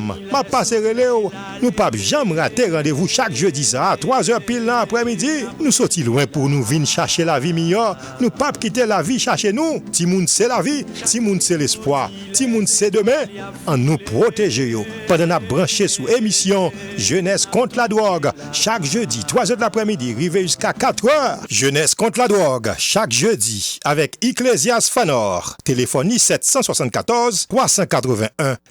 Madam, map pase relew, nou pap janm rate randevou chak jedi sa a 3 zè pil nan aprè midi, nou soti lwen pou nou vin chache lavi miyò, nou pap kite lavi chache nou, timoun se lavi, timoun se lespwa, timoun se demen, an nou pwoteje yo pandan nap branche sou emisyon Jenès kont ladwòg chak jedi 3 zè laprè midi rive jiska 4 rè. Jenès kont ladwòg chak jedi avèk Iclesias Phanor, telefòn li 774 381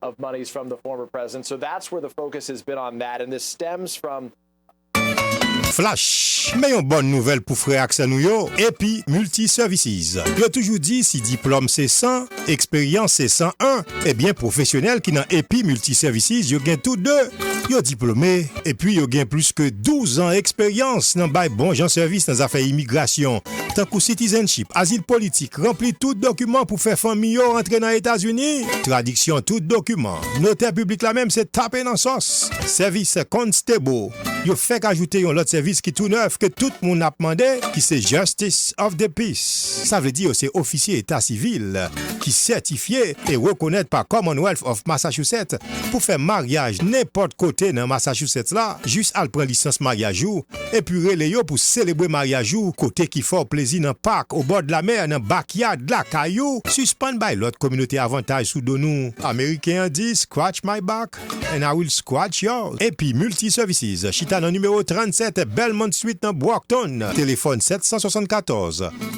of monies from the former president so that's where the focus has been on that and this stems from. Flash! Men yon bòn nouvèl pou frè ak sè nou yo AP Multi Services. Yo toujou di si diplòm se 100, eksperyans se 101, ebyen pwofesyonèl ki nan AP Multi Services yo gen tou 2, yo diplome epi yo gen plis ke 12 an eksperyans nan bay bon jan sèvis nan zafè imigrasyon. tankou citizenship, azil politik, ranpli tout dokiman pou fè fanmi yo rantre nan Etazini, tradiksyon tout dokiman, notè piblik la menm se tape nan sòs, sèvis constable, yo fèk ajoute yon lòt sèvis ki tou nèf ke tout moun ap mande ki se justice of the peace, sa vle di yo se ofisye eta sivil ki sètifye e rekonèt pa Commonwealth of Massachusetts pou fè maryaj nenpòt kote nan Massachusetts la, jis al pran lisans maryaj ou Epi rele yo pou selebre maryaj ou kote ki fè w plezi nan pak, obòd lamè, nan backyard lakay ou, sispann bay lòt kominote avantaj sou do nou. Ameriken an di scratch my back and I will scratch yours epi Multi Services chita nan nimewo 37 Belmont Street nan Brockton, telefòn 774.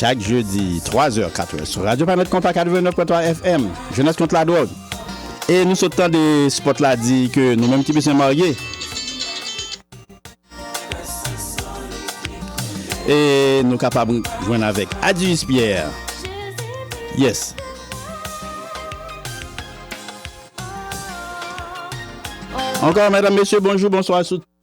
Chak jedi, 3 zè, 4 zè, sou Radyo Planèt Konpa 89.3 FM, Jenès Kont Ladwòg. E nou sot tande spot la di ke nou menm ki pi sen marye. E nou kapab jwenn avèk Adius Pierre. Yes. Ankò, mèdam, mesye, bonjou, bonswa sou.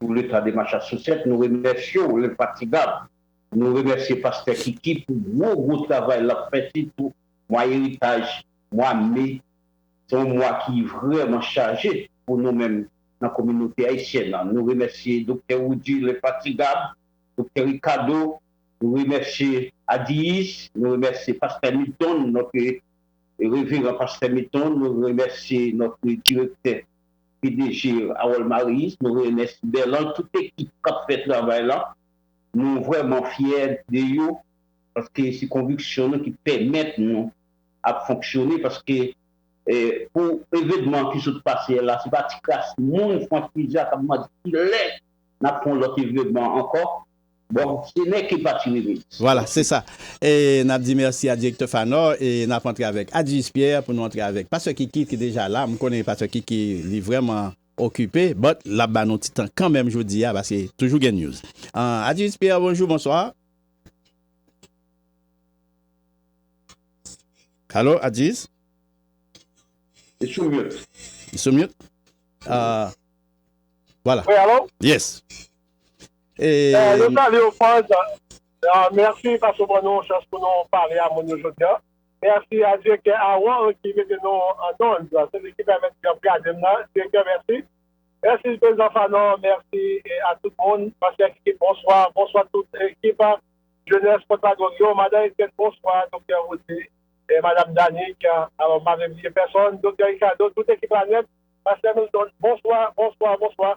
Pou leta demach a sou sèt nou remèsye w lenfatigab nou remèsye pastè kiki pou gwo gwo travay lap fè sitou mwa eritaj mwa me se yon mwa ki vrèman chaje pou nou menm nan kominote ayisyèn an nou remèsye doktè woudi lenfatigab doktè rikado Nou remèsye Adiyis, nou remèsye Pastè Milton, notre Reverend Pastè Milton, nou remèsye notre Direktè pdg Harold Marius, nou remèsye Berland, tout ekip kap fè travay la, nou vrèman fyè de yo paske se konviksyon nou ki pèmèt nou ap fonksyone paske pou evenman ki sot pase la se pa ti kras moun Franck Rizal kap mande kilè nap fè yon lòt evenman ankò. Bon se nèg ki pati wi mins. Voilà se sa e nap di merci a directeur Phanor e nap antre avek Adjis Pierre pou nou antre avek Pasteur Kiki ki deja la m konnen Pasteur Kiki li vreman okipe but lap ba nou ti tan kanmenm jodi a paske toujou gen news an Adjis Pierre bonjour bonsoir Allo Adjis Li sou mute Li sou mute ahh Voilà Wi allo Yes Nou salye w Ford, mèsi paske w ban nou yon chans pou nou pale a moun yo jodi an. Mèsi a Direktè Aaron ki mete nou an ond, se li ki pèmèt yo ap gade m la. Direktè mèsi. Mèsi Prezidan Fanon, mèsi a tout moun. Ansyen ak ekip bonswa, bonswa tout ekip jenès Pòt Lagong yo. Madan Etienne bonswa, Doktè Roody, Madam Danick, alò m pa vle bliye pèsonn, Doktè Ricardo, tout ekip la nèt, Pastè Milton bonswa, bonswa, bonswa.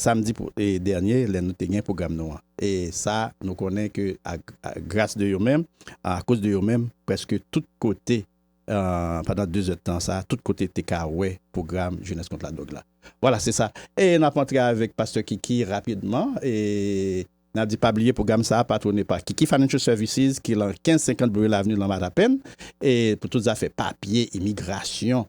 Samdi dènye lè nou te gen pwogram nou an. E sa nou konnen ke a gras de yo menm, a koz de yo menm, prèske tout kote pandan 2 zè tan sa, tout kote te ka wè pwogram Jenès kont ladwòg la. Vwala se sa. E n ap antre avèk Pastè Kiki rapidman. E n ap di pa bliye pwogram sa a patwone pa Kiki Financial Services ki lan 1550 Blue Hill Avenue lan Matapen. E pou tout zafè papye, imigrasyon.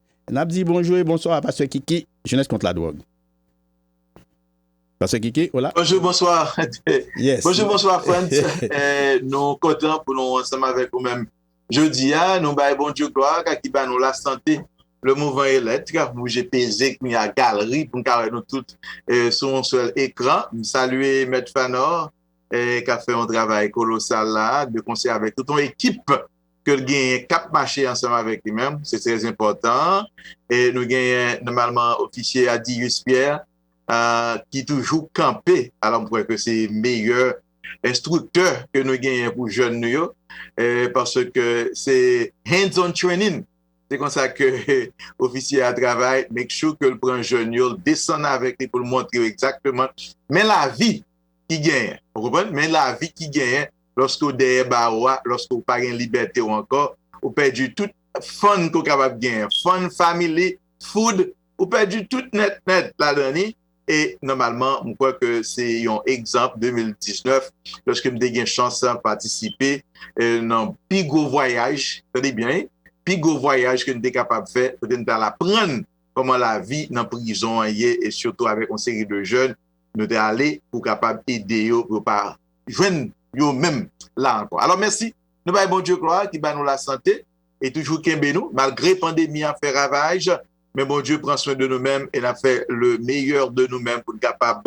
Nap di bonjou e bonswa a pastè Kiki, Jenès kont la dwòg. Pastè Kiki ou la? Bonjou bonswa Bonjou bonswa Frantz Nou kontan pou nou ansanm avèk ou menm Jodi a nou bay Bondye glwa ka ki ba nou lasante Le mouvant est l'etre ap bouje peze kounye a galri pou n ka wè nou tout sou yon sèl ekran M salye Mèt Phanor kap fè yon travay kolosal la de konsè avèk tout yon ekip ke l genyen k ap mache ansanm avèk li menm, se trè enpòtan. E nou genyen nòmalman ofisye a Dius Pierre ki toujou kanpe, alò m kwè ke se meyè enstriktè ke nou genyen pou jèn nou yo, paske se hands on training, se konsa ke ofisye a travay, make sure ke l pran jèn yo, l desann avèk li pou l montre yo egzakteman men lavi ki genyen, ou konprann, men lavi ki genyen Lòske w dèyè bawo a, lòske w pa gen libète w ankò, ou pèdi tout fun ke w kapab genyen, fun, family, food, ou pèdi tout nèt nèt ladan li e nòmalman m kwè ke se yon egzanp 2019 lòske m te gen chans patisipe nan pi gwo vwayaj, tande byen wi, pi gwo vwayaj ke n te kapab fè kote n t al aprann kòman lavi nan prizon an ye e sitou avèk yon seri de jèn nou te ale pou kapab ede yo pou yo pa jwenn yo menm la ankò. Alò mèsi nou bay Bondye glwa ki ba nou lasante e toujou kenbe nou malgre pandemi a fè ravaj men Bondye pran swen de nou menm e nap fè le meyè de nou menm pou n kapab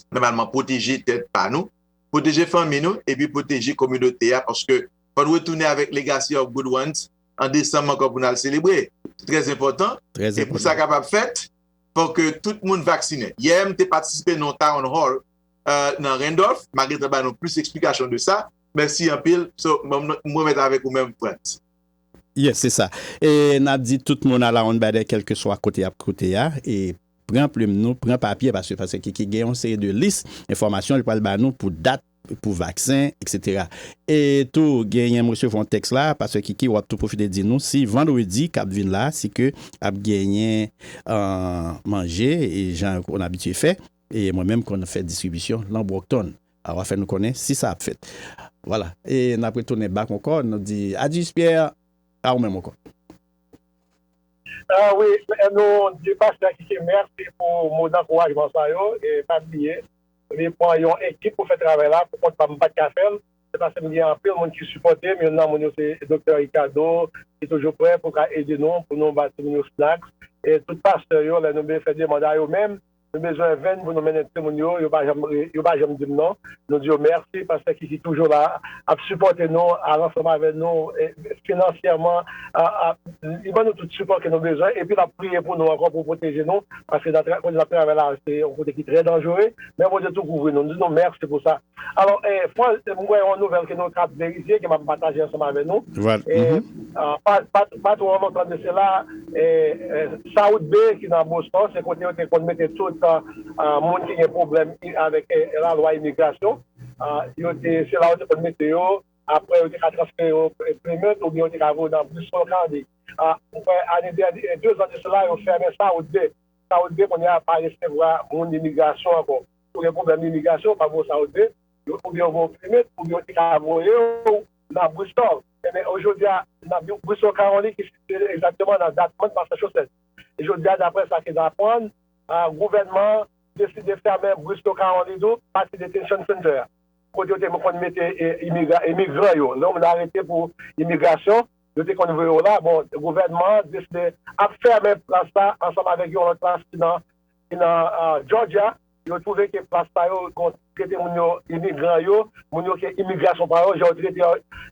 nòmalman pwoteje tèt pa nou, pwoteje fanmi nou epi pwoteje kominote a paske fò n retounen avèk legacy of good ones an desanm ankò pou n al selebre. Se trè enpòtan e pou sa kapab fèt fò ke tout moun vaksinen. Yè m te patisipe nan yon town hall nan Randolph, ma gentan ba nou plis eksplikasyon de sa, mèsi anpil, so m remèt avèk ou menm Frantz. Yes se sa e nap di tout moun alawonnbadè kèlkeswa kote yap koute a e pran plim nou pran papye paske pase kiki gen yon seri de lis enfòmasyon li pral ba nou pou dat pou vaksen etc e tou genyen m resevwa yon tèks la pase kiki wap tou pwofite di nou si vandredi kap vin la si ke ap genyen manje e jan on abitye fè. E mwen menm konn fè distribisyon lan Brockton. A wa fè nou konnen si sa ap fèt. Vwala. E n ap retounen bak ankò, nou di Adjis Pierre, a ou menm ankò. A wi, nou di Pastè Adjisye mèsi pou mo dankourajman sa yo. E pa bliye, li pran yon ekip pou fè travay la, pou kont pa m m pa t ka fè l. Se paske m gen anpil moun ki sipòte m. Youn nan moun yo se Doktè Ricardo, ki toujou prè pou l ka ede nou, pou nou bati moun yo snacks. E tout pastè yo, lè nou vle fè demand a yo menm, Nou bezwen venn pou nou mennen timoun yo, yo pa janm yo pa janm di m non. Nou di yo mèsi pastè Kiki toujou la ap sipòte nou al ansanm avè nou finansyèman li ban nou tout sipò ke nou bezwen epi lap priye pou nou ankò pou pwoteje nou paske kote nap travay la se yon kote ki trè danjere men Bondye tou kouvri nou nou di nou mèsi pou sa. Alò, Paul, m wè yon nouvèl ke nou kab verifye, ke m ap pataje ansanm avè nou. E, pa twò lontan de sela, South Bay, ki nan Boston, se kote yo te konn mete tout moun ki gen pwoblèm avèk lalwa imigrasyon. Yo te, se la yo te konn mete yo. Apre, yo te ka transfere yo Plymouth oubyen yo te ka voye yo nan Bristol County. M kwè ane dènye, dezan de sela, yo fèmen South Bay. South Bay, kounye a, pa resevwa moun imigrasyon ankò. ou gen pwoblèm imigrasyon, ou pa bon sa ou dwe, oubyen yo voye w plimen, oubyen yo te ka voye w nan Bristol. Enben, jodi a, nan Bristol, Kawolin, ki sitiye egzakteman nan Dartmouth, Massachusetts. E jodi a, dapre sa ke n aprann, gouvènman an deside fèmen Bristol, Kawolin tou, pati detention center a, kote yo te konn mete imigran yo. Lè w vin arete pou imigrasyon, yo te konn voye w la. Bon, gouvènman an deside ap fèmen plas la ansanm avèk yon lòt plas ki nan. ki nan Jòjya, yo twouve ke plas sa yo kon trete moun yo, imigran yo, moun yo ke imigrasyon pa yo, jan yo trete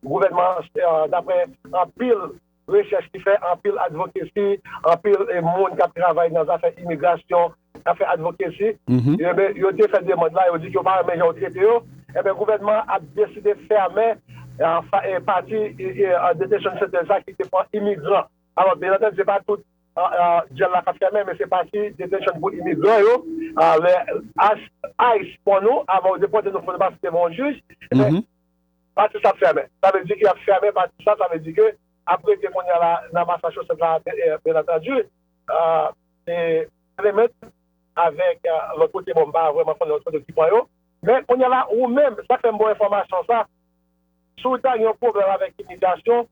gouvènman an daprè anpil rechèch ki fè, anpil advokesi, anpil moun k ap travay nan zafè imigrasyon, k ap fè advokesi, yo te fè demand la, yo di ke yo pa renmen jan yo trete yo, enben gouvènman an ap deside fèmen pati detention center sa ki te pou imigran. Alò, byenantèdi, se pa tout. Dyèl la kap fèmen men se pati detention pou imigran yo lè ice pwan nou avan yo depòte nou fò nou pase devan yon jij epi pati sa ap fèmen sa vle di ke yap fèmen pati sa sa vle di ke ap rete kounya la nan Massachusetts la byen antandi se Clement avèk lòt kote bon m pa vrèman konnen lòt kote ki pwan yo men kounya la ou menm sa k fèm ba w enfòmasyon sa si w ta gen yon pwoblèm avèk imigrasyon.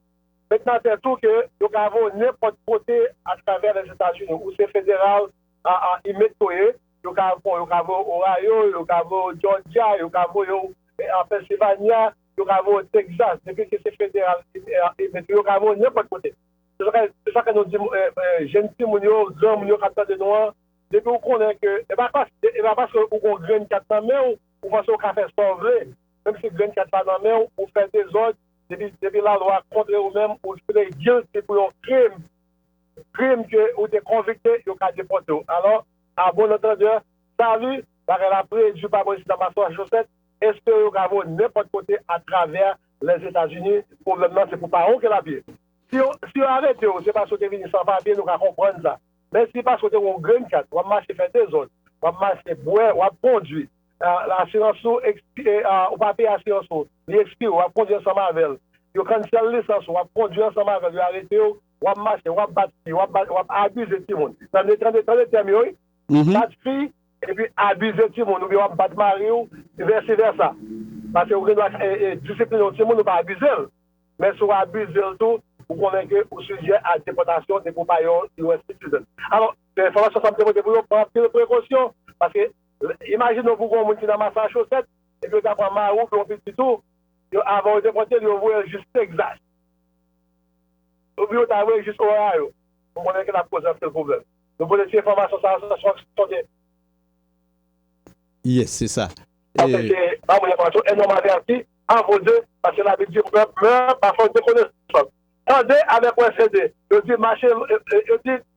Met nan tèt ou ke yo ka voye w nenpòt kote atravè Lèzetazini. Ou se federal inmate ke w ye, yo ka voye w Ohio, yo ka voye w Georgia, yo ka voye w Pennsylvania, yo ka voye w Texas. Depi ke se federal inmate ou, yo ka voye w nenpòt kote. Se sa ke nou di jenn timoun yo, granmoun yo k ap tande nou an, depi ou konnen ke e pa paske ou gen yon grenn kat nan men ou, ou panse ou ka fè sa w vle. Menmsi grenn kat la nan men ou, ou fè dezòd, Depi la lwa kontre ou menm ou jure guilty pou yon krim, krim ke ou te konvikte yo ka depote ou. Alò, a bon antandeur, salut, bagay la preju pa mwen sita Massachusetts, espere yo ka voye nenpòt kote a travè les Etats Unis, pwoblèm nan se pou pa ou ke lap ye. Si yo si yo arete ou se paske ou te vini san papye nou ka konprann sa, men si paske ou te gen yon green card wap mache fè dezòd, wap mache bwè, wap kondwi. Asirans ou ekspire Ou pa peye asirans ou Li ekspire w ap kondwi ansanm avè l Yo cancel lisans ou W ap kondwi ansanm avè l Yo arete w W ap mache W ap bat fi W ap abize timoun Tande tande tande tèm yo wi Bat fi epi abize timoun oubyen w ap bat mari w Vèsi vèsa Pase ou gen dwa disipline yon timoun ou pa abize l Men si w abize l tou ou konnen ke ou sijè a depòtasyon depi w pa yon US citizen Alò enfòmasyon sa m te pote pou yo pran anpil prekosyon Pase Imajine w pou gon moun ki nan Masachosèt epi yo ta pran mari w oubyen yon pitit ou, yo avan yo depòte l yo voye l jis Tegzas. Oubyen yo ta voye l jis Ohio. Nou konnen ki sa k koze anpil pwoblèm. Nou konnen si enfòmasyon sa yo se sonde. Yes, se sa. Pase se pa moun enfòmasyon e nòmal te ap di a vos yeux paske labib di pèp mè pa fòk de konesans. Tande avèk wè se de. Yo di mache yo di.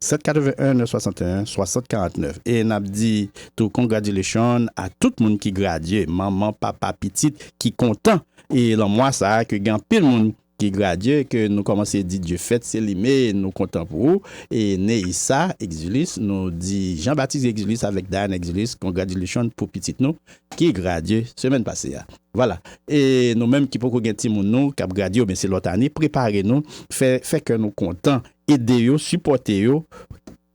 781 961 60 49 e nap di tou congratulation a tout moun ki gradye manman papa pitit ki kontan e lan mwa sa ke gen anpil moun ki gradye ke nou komanse di Dye fèt selime nou kontan pou ou e Neissa Exilus nou di Jean Baptiste Exilus avèk Diana Exilus congratulation pou pitit nou ki gradye semèn pase a vwala e nou menm ki poko gen timoun nou kap gradye oubyen se lòt ane prepare nou fè fè kè nou kontan ede yo, sipòte yo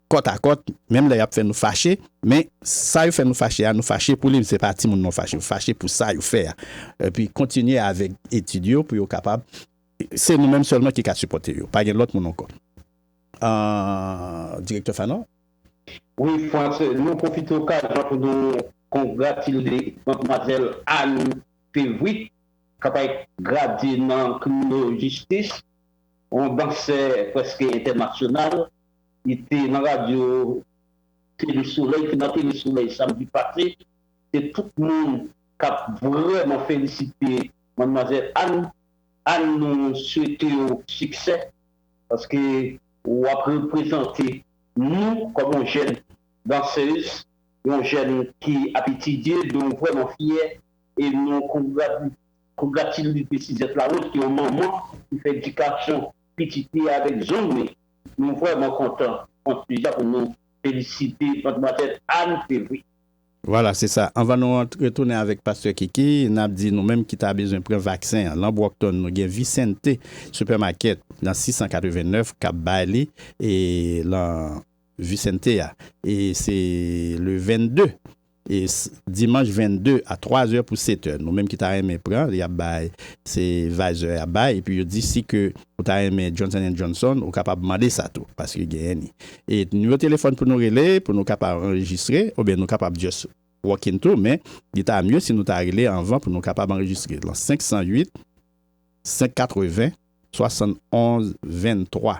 kòt a kòt, menm lè y ap fè nou fache, men sa yo fè nou fache a, nou fache pou li, se pa timoun non, ou fache pou sa yo fè a, epi kontinye avèk etid yo pou yo kapab, se nou menm sèlman ki ka sipòte yo, pa gen lòt moun ankò. Direktè Fanon? Wi Frantz, nou pwofite okazyon pou nou kongratile Madmwazèl Anne Fevry k ap gradye nan Kriminolojistis. yon dansè prèske entènasyonal, li te nan radyo Tele Solèy, te nan Tele Solèy samdi pase, se tout moun k ap vrèman felisite Manmwazèl Ann. Ann nou swete w siksè paske w ap reprezante nou kòm yon jèn dansez, yon jèn ki ap etidye, nou vrèman fyè e nou kongratile. Pou Gratilou li te Suzette Larose ki yon manman ki fè edikasyon pitit li avèk zong li. Nou vrèman kontan an Suza pou nou felisite Madmwazèl Anne Févry. Vwala se sa. Anvan nou ant retounen avèk Pastè Kiki, n ap di nou menm ki ta bezwen pran vaksen an. Lan Brockton nou gen Vicente Supermarket nan 689 k ap bay li e lan Vicente a e se le 22. S dimanch 22 a 3 zè pou 7 è nou menm ki ta renmen pran li ap bay se Pfizer yap bay epi yo di si ke ou ta renmen Johnson and Johnson ou kapab mande sa tou paske genyen ni e nimewo telefòn pou nou rele pou nou kapab anrejistre oubyen nou kapab just walk in tou men li ta mye si nou ta rele anvan pou nou kapab anrejistre lan 508 580 71 23.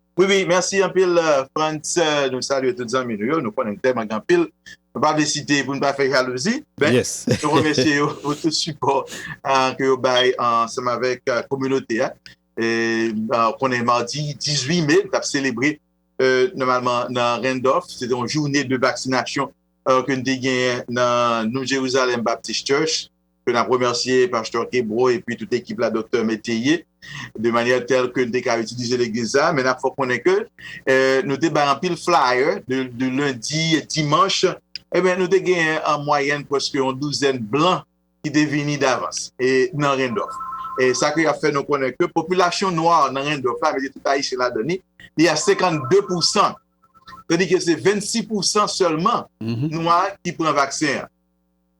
Wi wi mèsi anpil Frantz nou salye tout zanmi nou yo nou konnen nou tèlman gen anpil nou pa vle site pou nou pa fè jalouzi men nou remèsye yo pou tout sipò ke yo bay ansanm avèk kominote a nou konnen mardi 18 me nou t ap selebre nòmalman nan Randolph se te yon joune de vaksinasyon ke nou te genyen nan New Jerusalem Baptist Church ke n ap remèsye Pastè Kebron epi tout ekip la Doktè Métayer de manyè tèl ke n te ka itilize legliz sa, men n ap fè w konnen ke nou te bay anpil flayè de lendi, dimanch, enben nou te genyen an mwayèn prèske yon douzèn blan ki te vini davans e nan Rendòf e sa ke y ap fè nou konnen ke popilasyon nwa nan Rendòf la, mete tout Ayisyen ladan li, li a 52 pou san, tandike se 26 pou san sèlman nwa ki pran vaksen an.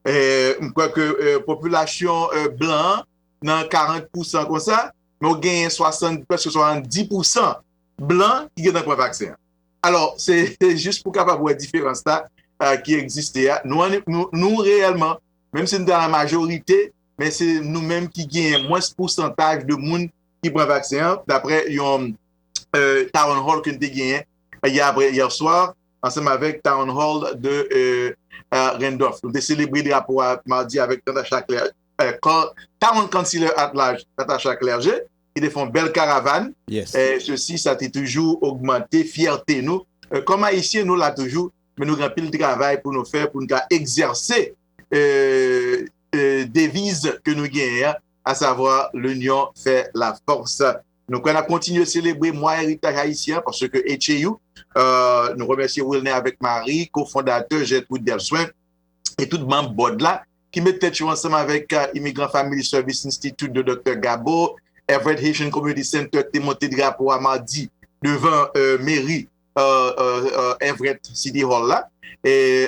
m kwè ke popilasyon blan an nan 40 pousan konsa, men ou genyen prèske 70 pousan blan ki gentan pran vaksen an. Alò, se jis pou kapab wè diferans la ki egziste a. Nou reyèlman, menm si nou ta nan majorite, men se nou menm ki genyen mwens pousantaj de moun ki pran vaksen an, dapre yon town hall ke nou te genyen yè apre yè swa. ansanm avèk Town Hall de Randolph. Nou te selebre drapo a madi avèk Natasha Clerge, Town Councilor at Large Natasha Clerge, ki te fè yon bèl karavàn. Sesi, sa te toujou ogmante fyète nou. Kòm Ayisyen, nou la toujou, men nou gen anpil travay pou nou fè pou nou ka egzèse deviz ke nou genyen an, asavwa, L'union fait la force. Nou kwè nan kontinye selebre mwa eritaj ayisyen an paske HAU, nou remèsye Wilner avèk Marie, ko-fondatè Gertrude Delswin, e tout manm Bòd la, ki met tèt yo ansanm avèk Immigrant Family Service Institute de Doktè Gabo, Everett Haitian Community Center te monte drapo a madi devan meri Everett City Hall la,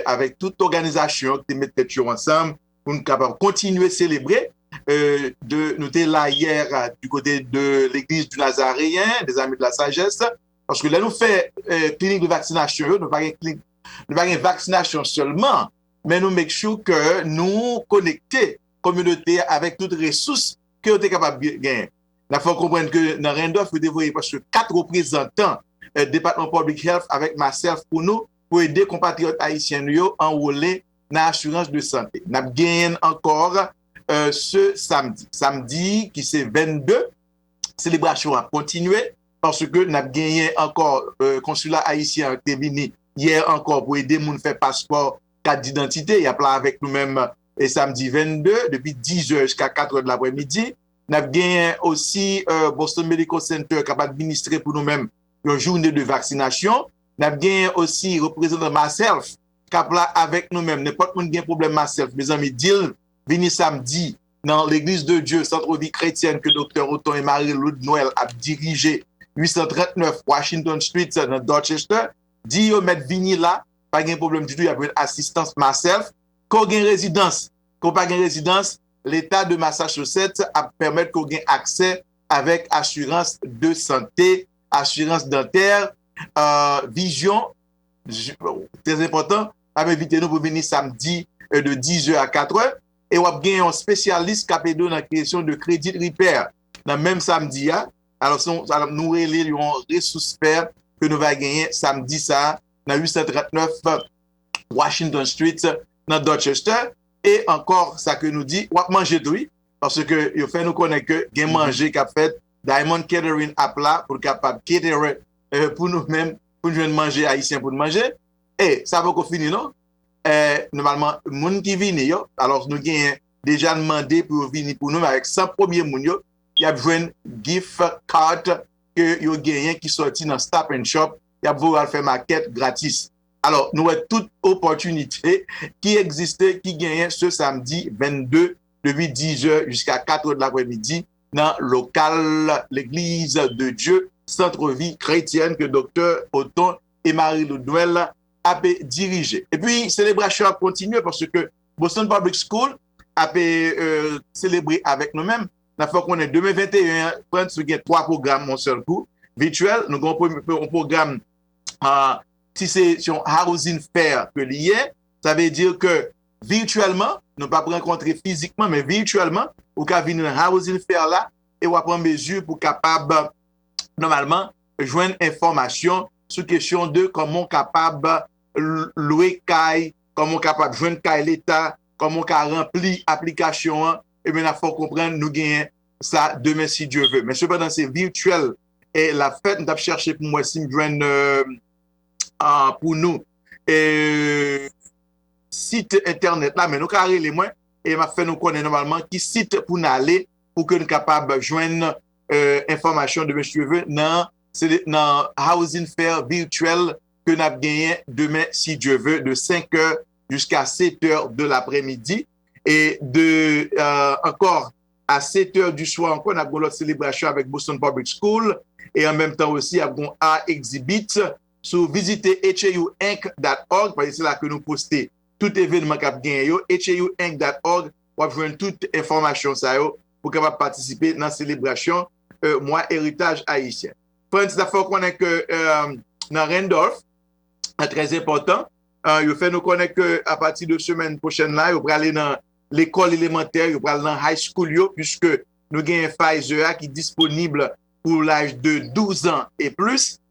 avèk tout òganizasyon ki te met tèt yo ansanm pou nou kapab kontinye selebre de nou te la yè du kote de l'Eglise du Nazareen des Amis de la Sagesse paske lè nou fè klinik de vaksinasyon yo nou pa gen klinik nou pa gen vaksinasyon sèlman men nou make sure ke nou konekte kominote avèk tout resous ke yo te kapab gen nan fè konprann ke nan Randolph yo te voye paske 4 reprezantan Department Public Health avèk myself pou nou pou ede konpatriyòt Ayisyen nou yo anwole nan asirans de sante. N ap genyen l ankò se samdi. Samdi ki se 22, selebrasyon ap kontinye paske n ap genyen ankò konsila ayisyen an te vini yè ankò pou ede moun fè paspò, kat didantite. Y ap la avèk nou menm samdi 22 depi 10 zè jiska 4 zè dlaprè midi. N ap genyen osi Boston Medical Center k ap administre pou nou menm yon joune de vaksinasyon. N ap genyen osi reprezantan MassHealth kap la avèk nou menm nenpòt moun gen problèm maself mezanmi dil vini samdi nan legliz de Dye centre vie chrétienne ke doktè Othon et Marie Loude Noël ap dirije 839 Washington street sa nan Dorchester di yo mèt vini la pa gen problèm ditou yap jwenn asistans maself ke w gen rezidans ke w pa gen rezidans leta de Massachusetts ap pèmèt ke w gen aksè avèk asirans de sante asirans dantè ahh vizyon. Trè enpòtan, n ap envite nou pou vini samdi de dizè a katrè e w ap gen yon spesyalis k ap ede w nan kreyasyon de credit repair nan menm samdi a. Alòs, nou rele l yon resous pè ke nou va genyen samdi sa a nan 839 Washington Street nan Dorchester. E ankò sa ke nou di, w ap manje tou wi, paske yo fè nou konnen ke gen manje k ap fèt, Diamond Catering ap la pou l kapab caterer pou nou menm pou n jwenn manje ayisyen pou n manje e sa poko fini non e nòmalman moun ki vini yo alòs nou genyen deja n mande pou yo vini pou nou men avèk 100 premye moun yo y ap jwenn gif kat ke yo genyen ki sòti nan stop and shop y ap voye yo al fè makèt gratis alò nou wè tout opòtinite ki egziste ki genyen se samdi 22 depi 10 è jiska 4 è de lapremidi nan lokal L'Eglise de Dieu, Centre Vie Chretienne ke Doktè Othon et Marie Ludmuel ape dirije. Epi selebrasyon ap kontinye paske Boston Public School ape selebre avèk nou menm. Nap fè w konnen demen 21 an, Frantz nou gen 3 pwogram yon sèl kou, vityèl. Nou gen yon pwogram si se yon housing fair ke li ye, sa vle di ke virtuellement, nou pap rankontre fizikman men virtuellement, ou ka vin nan Housing Fair la e wap an mezi pou kapab nòmalman jwenn enfòmasyon sou kesyon de kòman ou kapab lwe kay, kòman ou kapab jwenn kay leta, kòman ou ka ranpli aplikasyon an, ebyen nap fè w konprann nou genyen sa demen si Dye ve. Men sepandan se virtuel lap fèt, m tap chèche pou m wè si m jwenn pou nou. sit entènèt la, men nou ka rele mwen e m ap fè nou konnen nòmalman ki sit pou n ale pou ke n kapab jwenn enfòmasyon de Mesye Cheveux nan Housing Fair Virtuel ke n ap genyen demen si Dye ve de 5 è jiska 7 è de lapremidi e de ankò a 7 è di swa ankò n ap gen lòt selebrasyon avèk Boston Public School e an menm tan osi ap gen yon art exhibit. Si w vizite HAUinc dat org, paske se la ke nou poste tout evenman k ap genyen yo, HAUinc dat org, w ap jwenn tout enfòmasyon sa yo pou kapab patisipe nan selebrasyon Mwa Eritaj Ayisyen. Frantz, n ap fè w konnen ke nan Randolph, sa trè enpòtan, yo fè nou konnen ke apati de semèn pwochèn la, yo prale nan lekòl elemantè, yo pral nan high school yo, puiske nou genyen Pfizer a ki disponib pou laj de 12 an e plis.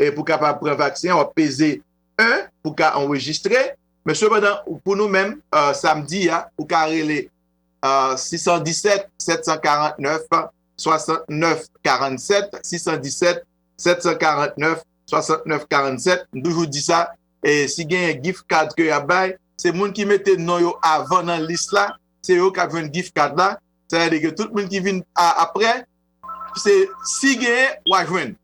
Pou w kapab pran vaksen an, w ap peze 1 pou w ka anrejistre. Men sepandan, pou nou menm, samdi a, ou ka rele 617 749 69 47, 617 749 69 47. M toujou di sa, si genyen gift card ke y ap bay, se moun ki mete non yo avan nan lis la, se yo k ap jwenn gift card la. Sa vle di ke tout moun ki vin aprè, si genyen, w a jwenn.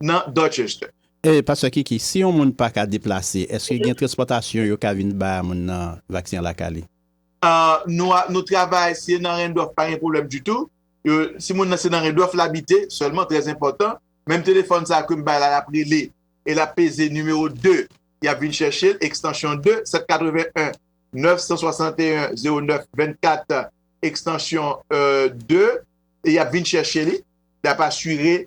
nan Dorchester. Ey pastè kiki si yon moun paka deplase eske gen transpòtasyon yo ka vin ba moun nan vaksen an lakay li. Nou a nou travay si e nan rendwòf pa gen pwoblèm ditou si moun nan se nan rendwòf l abite sèlman trè enpòtan menm telefòn sa kem bay la lap rele e lap peze nimewo 2 yap vin chèche l ekstansyon 2 781 961 09 24 ekstansyon 2 e yap vin chèche li yap asire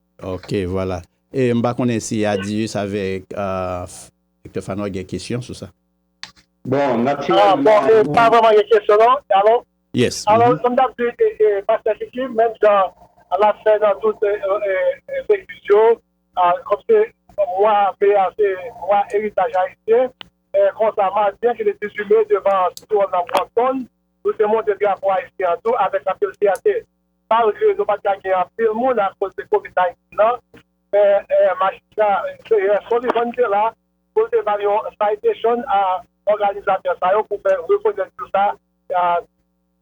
Ok vwala e m pa konnen si Adius avèk Doktè Phaneau gen kesyon sou sa. Bon natirèlman nou. Bon pa vrèman gen kesyon non. Alo? Yes. Alo sa m t ap di pastè Kiki menm jan l ap fè nan tout legliz yo kòm se mwa me a se mwa eritaj ayisyen konsa madi an ki te 18 me devan Sitwon nan Brompton nou te monte drapo ayisyen an tou avèk anpil fyète Malgre nou pat ka gen anpil moun akoz de covid 19 lan, men majistra Pierre Solivan te la pou l te bay yon citation a òganizatè sa yo pou fè rekonèt jou sa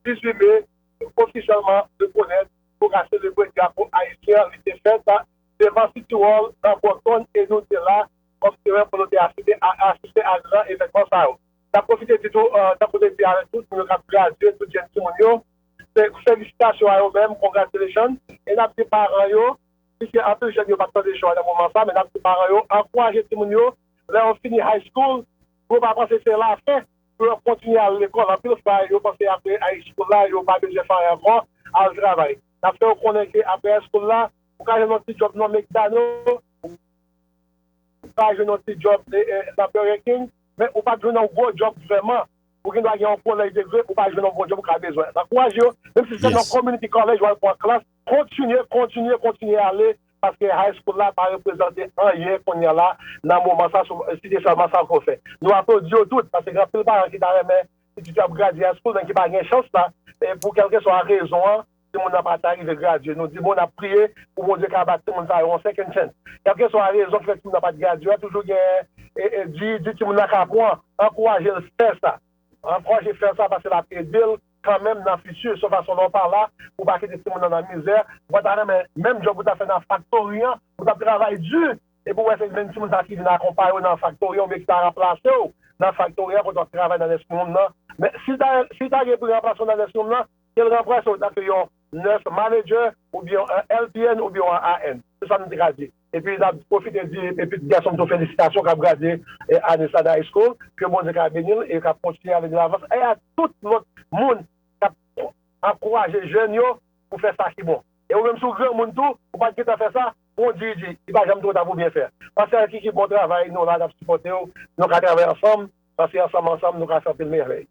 18 me ofisyèlman rekonèt pou ka selebre drapo ayisyen li te fèt devan City Hall nan Boston e nou te la kòm temwen pou nou te asiste a gran evènman sa yo. N ap pwofite di tou tankou depi a tout moun yo k ap gradye tout jèn timoun yo Felisitasyon a yo menm congratulations e nap di paran yo piske anpil jèn yo pap tande cho a nan moman sa men nap di paran yo ankouraje timoun yo lè yo fini high school pou yo pa panse se la fen pou yo kontinye al lekòl anpil fwa yo panse aprè high school la yo pa bezwen fè anyen ankò al travay nap fè yo konnen ke aprè high school la ou ka jwenn yon ti djòb nan mekdano ou ka jwenn yon ti djòb nan burger king men ou pap jwenn yon gwo djòb vrèman Ou gen dwa gen yon kolèj de vre ou pa jwenn yon Bondye pou ka bezwen an. Ankouraje yo, menm si se nan community college wal pran klas, kontinye, kontinye, kontinye ale, paske high school la pa reprezante anyen kounya la nan moman sa sof si se sèlman sa ke w fè. Nou aplodi yo tout, paske gen anpil paran ki ta renmen pitit yo ap gradye high school men ki pa gen chans la pou kèlkeswa rezon an. timoun nan pa ta rive gradye, nou di bon nap priye pou Bondye ka ba timoun sa yo yon second chance. Kelkeswa rezon ki fè timoun nan pat gradye a toujou gen di di timoun nan ka apwan, ankouraje l fè sa. Ankouraje fè sa paske lap ede l kanmenm nan futur son fason lè w pa la pou pa kite timoun nan nan mizè, ou pa ta renmen menm job ou tap fè nan faktori an, ou tap travay di epi w wè se menm timoun sa ki vin akonpaye w nan faktori an oubyen ki ta ranplase w nan faktori an kote wap travay nan nèsrium nan, men si ta gen pou ranplase w nan nèsrium nan. ke l ranplase w tanke yon nurse manager oubyen yon LPN oubyen yon AN. Se sa m te ka di. Epi n ap pwofite di pitit gason m tou felisitasyon k ap gradye ane sa nan high school, ke Bondye ka beni l e k ap kontinye ale de lavan, e a tout lòt moun k ap ankouraje jèn yo pou fè sa ki bon. E ou menm si w granmoun tou, ou pa t gentan fè sa, pran w diri diri. Li pa janm two ta pou byen fè. Pasteur Kiki bon travay, nou la n ap sipòte w, nou ka travay ansanm, paske ansanm ansanm nou ka fè anpil mèvèy.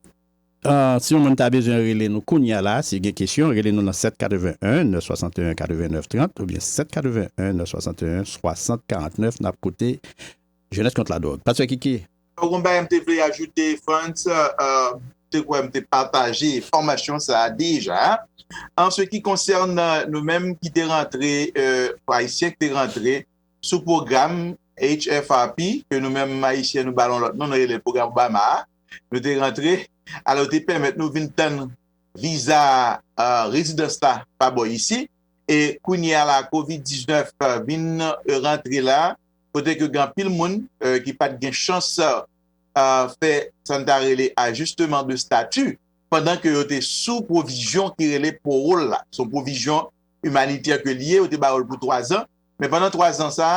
Si yon moun ta bezwen rele nou kounya la, si gen kesyon, rele nou nan 7 81 961 89 30 oubyen 7 81 961 60 49 nap koute Jeunesse Contre la Drogue. Pastè Kiki. Bon yon bagay m te vle ajoute Frantz, m te kwè m te pataje enfòmasyon sa a deja. An se ki konsène nou menm ki te rantre, Ayisyen ki te rantre sou pwogram HFRP ke nou menm Ayisyen nou ba l yon lòt non, nou rele l pwogram Obama a, Nou te rantre, alò yo te pèmèt nou vin tann viza rezidans la pa bò isi, e kounye a la covid 19 vin rantre la, kote ke gen anpil moun ki pat gen chans fè sa n ta rele ajisteman de stati pandan ke yo te sou pwovizyon ki rele powol la, son pwovizyon imanitè ke li ye, yo te ba yo l pou 3 zan, men pandan 3 zan sa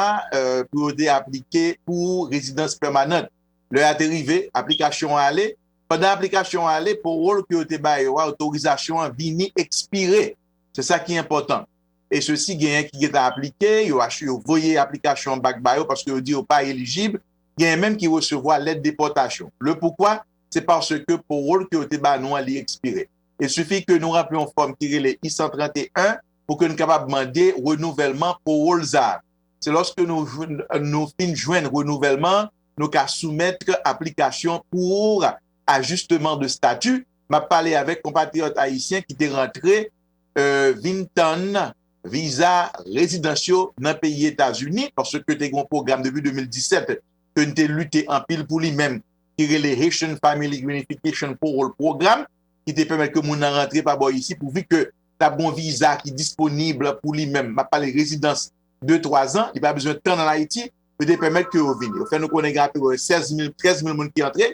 pou yo te aplike pou rezidans pèmanant. Lè a te rive, aplikasyon an ale. Pandan aplikasyon an ale, powol ke yo te ba yo a, otorizasyon an, vini ekspire. Se sa ki enpòtan. E sesi genyen ki gentan aplike, yo achi, yo voye aplikasyon an bak ba yo paske yo di yo pa elijib. Genyen menm ki resevwa lèt depòtasyon. Le poukwa? Se paske powol ke yo te ba nou an, li ekspire. Il sifi ke nou ranpli yon fòm ki rele I-131 pou ke nou kapab mande renouvèlman powol za a. Se lòske nou fin jwenn renouvèlman an, nou ka soumèt aplikasyon pour ajustement de statut. M ap pale avèk konpatriyòt ayisyen ki te rantre vin tann viza rezidans yo nan peyi Etazini, paske te gen yon pwogram depi 2017 ke n te lite anpil pou li menm, ki rele Haitian Family Reunification Parole Program, ki te pèmèt ke moun nan rantre pa bò isit, pouvi ke ta bon viza ki disponib pou li menm, map pale rezidans de 3 zan, li pa bezwen tann an Ayiti, yo te pèmèt ke yo vini. Yo fè nou konnen gen anpil 16 mil, 13 mil moun ki antre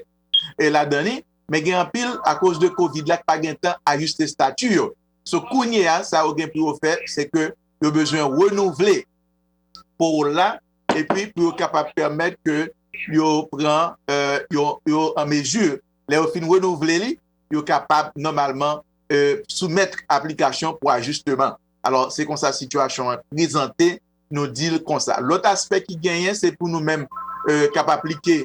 la dan li, men gen anpil a koz de kovid la ki pa gen tan ajiste stati yo. So kounye a sa yo gen pou yo fè, se ke yo bezwen renouvle pawol la e pi pou yo kapab pèmèt ke yo pran, yo an mezi lè yo fin renouvle li, yo kapab nòmalman soumèt aplikasyon pou ajisteman. Alò, se konsa sitiyasyon an prezante, nou di l konsa. Lòt aspè ki genyen, se pou nou menm k ap aplike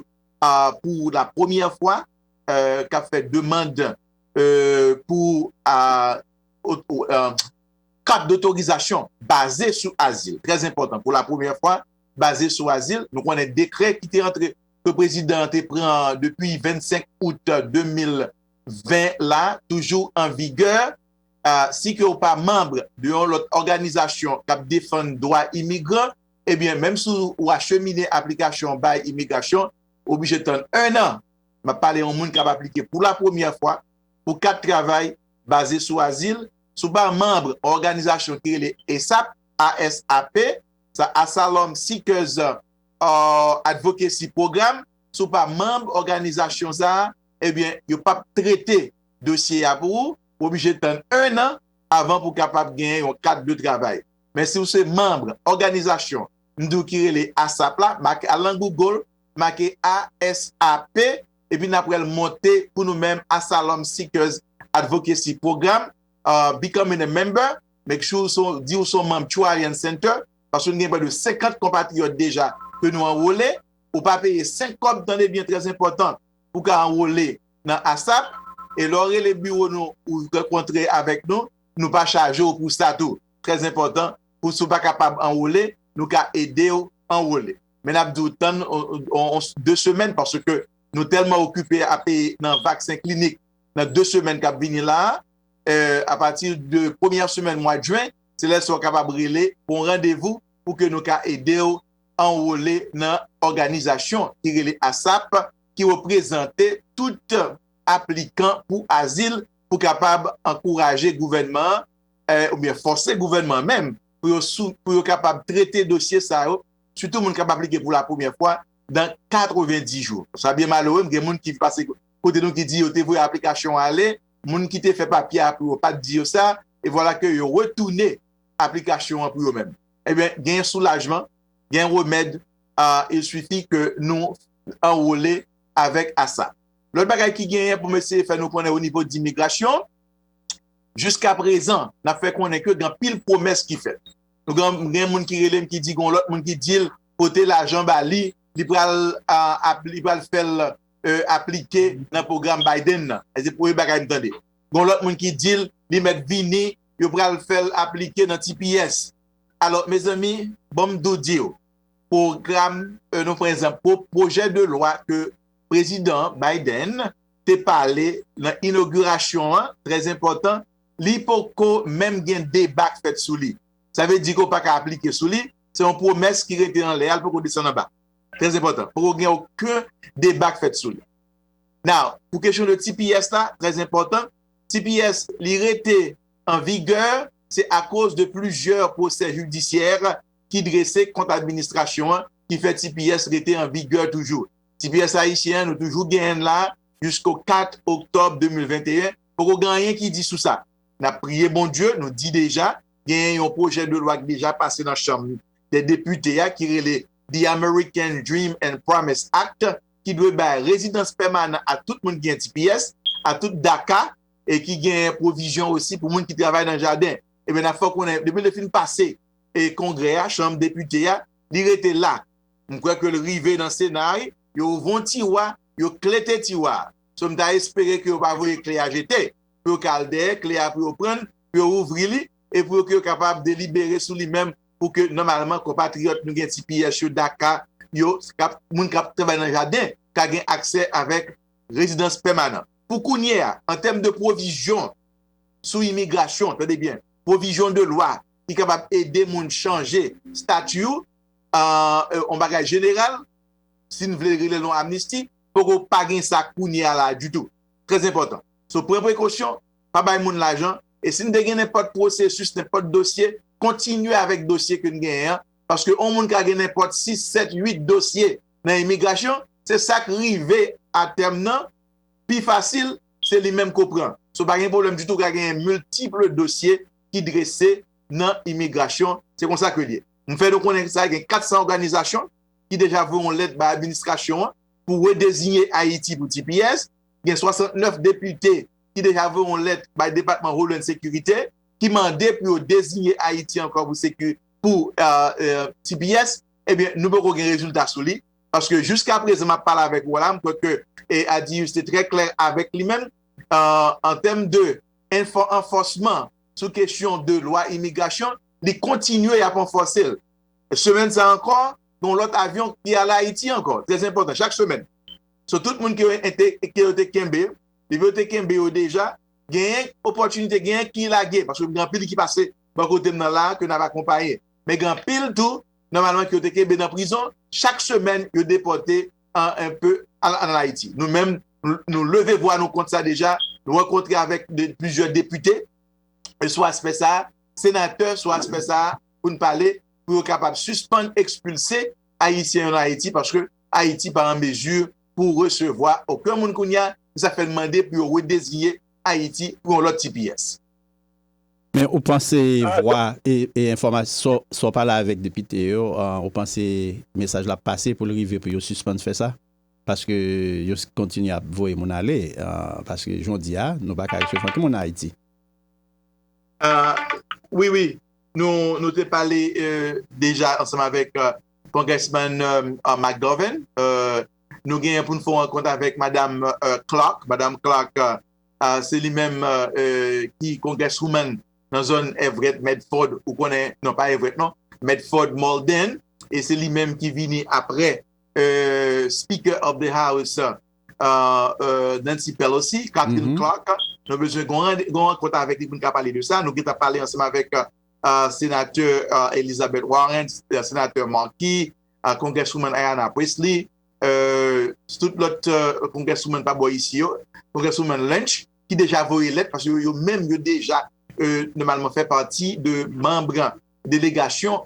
pou la premyè fwa, k ap fè demand pou kat dotorizasyon baze sou azil. Trèzenpòtan, pou la premyè fwa, baze sou azil. Nou konnen dekrè ki te antre ke prezidan an te pran depi 25 out 2020 la toujou an vigè, si ke ou pa manb de yon lòt òganizasyon k ap defann dwa imigran, ebyen menm si ou achemine aplikasyon an bay imigrasyon, ou oblije tann 1 an, m ap pale yon moun k ap aplike pou la premyè fwa pou kat travay baze sou azil, si ou pa manb yon òganizasyon ki rele ASAP, ASAP, sa Asylum Seekers. Advocacy Program, si w pa manb òganizasyon sa a, ebyen yo pap trete dosye a pou ou, ou oblije tann 1 an avan pou w kapab genyen yon kat de travay. Men si w se manb òganizasyon m di w ki rele ASAP la, make al nan Google, make ASAP, epi n ap wè l monte pou nou menm Asylum Seekers Advocacy Program, Becoming a Member, make sure di w se yon manb Tru Alliance Center, paske nou gen prè de 50 konpatriyòt deja ke nou anwole, ou pa peye 5 kòb tande byen trè enpòtan pou ka anwole nan asap, e lè w rele biwo nou ou rankontre avèk nou, nou pa chaje w pou sa tou, trè enpòtan pou si w pa kapab anwole nou ka ede w anwole men nap di w tann 2 semèn paske nou tèlman okipe ape nan vaksen klinik nan 2 semèn kap vini la a pati de premyè semèn mwad jwen Se lè sa w kapab rele pou yon randevou pou ke nou ka ede w anwole nan òganizasyon ki rele asap ki reprezante tout aplikan pou azil pou kapab ankouraje gouvènman an oubyen fòse gouvènman an menm pou yo kapab trete dosye sa yo sitou moun k ap aplike pou la premyè fwa nan 90 jou. Sa byen malere m gen moun ki pase kote nou ki di yo te voye aplikasyon ale moun ki te fè papye a pou yo pa t di yo sa e vwala ke yo retoune aplikasyon an pou yo menm. Ebyen, gen soulajman, gen remèd, il suffit ke nou anrole avèk asa. Lòt bagay ki genyen pou m eseye fè nou konnen o nivo di migrasyon, jiska prezan, n ap fè konnen ke gen anpil pwomès ki fèt. Nou gen, gen moun ki rele m ki di gen yon lòt moun ki di l pote lajan ba li, li pral ap, li pral fè l aplike nan pwogram Biden nan. Se premye bagay m tande. Gon lòt moun ki dil li mèt vini yo pral fèl aplike nan tps alò mezanmi banm tou diw pwogram nou prezan pwojè de lwa ke prezidan Biden te pale nan inogirasyon an trè enpòtan li poko menm gen deba k fèt sou li sa vle di ke w paka aplike sou li se yon pwomès ki rete anlè a li poko desann anba trè enpòtan poko gen oken deba k fèt sou li. Now, pou kesyon de tps la, trè enpòtan, tps li rete an vigè, se akoz de plizyè pwosè jidisyè ki drese kont administrasyon an ki fè tps rete an vigè toujou. Tps ayisyen an nou toujou genyen l la jisko 4 oktòb 2021, poko gen anyen ki di sou sa. N ap priye Bondye, nou di deja, genyen yon pwojè de lwa ki deja pase nan chanm dè depite a ki rele The American Dream and Promise Act, ki dwe bay rezidans pèmanan a tout moun ki gen tps, a tout DACA e ki genyen pwovizyon osi pou moun ki travay nan jaden. Ebyen n ap fè w konnen depi l te fin pase Kongrè a, Chanm Depite a, li rete la. M kwè ke l rive nan Sena a wi. Yo ouvri yon tiwa, yo klete tiwa a. So m ta espere ke yo pa voye kle a jete. Pou yo ka al dèyè kle a pou yo pran l, pou yo ouvri li e pou yo ke yo kapab delibere sou li menm pou ke nòmalman konpatriyòt nou gen tps yo, daka yo, moun k ap travay nan jaden ka gen aksè avèk rezidans pèmanan. Pou kounye a, an tèm de pwovizyon sou imigrasyon, tande byen, pwovizyon de lwa ki kapab ede moun chanje stati ou, yon bagay jeneral, si n vle rele l yon amnisti, poko pa gen sa kounye a la ditou. Trè enpòtan. So pran prekosyon, pa bay moun lajan, e si n te gen nenpòt pwosesis, nenpòt dosye, kontinye avèk dosye ke n genyen an, paske yon moun ka gen nenpòt 6, 7, 8 dosye nan imigrasyon, se sa k rive a tèm nan, pi fasil, se li menm ke w pran. So pa gen pwoblèm ditou, ka genyen miltiple dosye ki drese nan imigrasyon, se konsa ke l ye. M fè nou konnen sa gen 400 òganizasyon ki deja voye yon lèt bay administrasyon an pou redezinye Ayiti pou tps, gen 69 depite ki deja voye yon lèt bay depatman Holand Securite, ki mande pou yo deziye Ayiti ankò pou seku pou tps ebyen nou poko gen rezilta sou li paske jiska prezan map pale avèk ou la m kwè ke e Adius te trè klè avèk li menm an tèm de enfò anfòsman sou kesyon de lwa imigrasyon li kontinye yap anfòse l semèn sa ankò gon lòt avyon ki ale Ayiti ankò trè enpòtan chak semèn sou tout moun ke yo te kenbe li yo te kenbe yo deja. Genyen opòtinite, genyen ki lage, paske gen anpil ki pase bò kote m nan la a ke n ap akonpaye. Men gen anpil tou, nòmalman ke yo te kenbe nan prizon, chak semèn yo depòte anpe al ann Ayiti. Nou menm, nou leve vwa nou kont sa deja, nou rankontre avèk plizyè depite sou aspè sa a, senatè sou aspè sa a, pou n pale, pou yo kapab sispann ekspilse Ayisyen yo nan Ayiti, paske Ayiti pa an mezi. pou resevwa oken moun kounye a, se sa k fè n mande pou yo redeziye Ayiti pou yon lòt tps. Men ou panse vwa e enfòmasyon sa w pale avèk depite yo ou panse mesaj la ap pase pou l rive pou yo sispann fè sa paske yo kontinye ap voye moun ale paske jan w di a nou pa ka resevwa oken moun an Ayiti. Wi wi nou te pale deja ansanm avèk Congressman McGovern, nou genyen pou nou fè yon rankont avèk Madam Clark. Madam Clark, se li menm ki Congresswoman nan zòn Everett Medford, ou konnen, non pa Everett non, Medford Malden, e se li menm ki vini apre Speaker of the House Nancy Pelosi, Katherine Clark. Nou bezwen yon rankont avèk li pou nou ka pale de sa. Nou gentan pale ansanm avèk. Senatè Elizabeth Warren, Senatè Markey, Congresswoman Ayanna Pressley, tout lòt Congresswoman pa bò isi yo, Congresswoman Lynch, ki deja voye lèt, paske yo menm yo deja nòmalman fè pati de manb delegasyon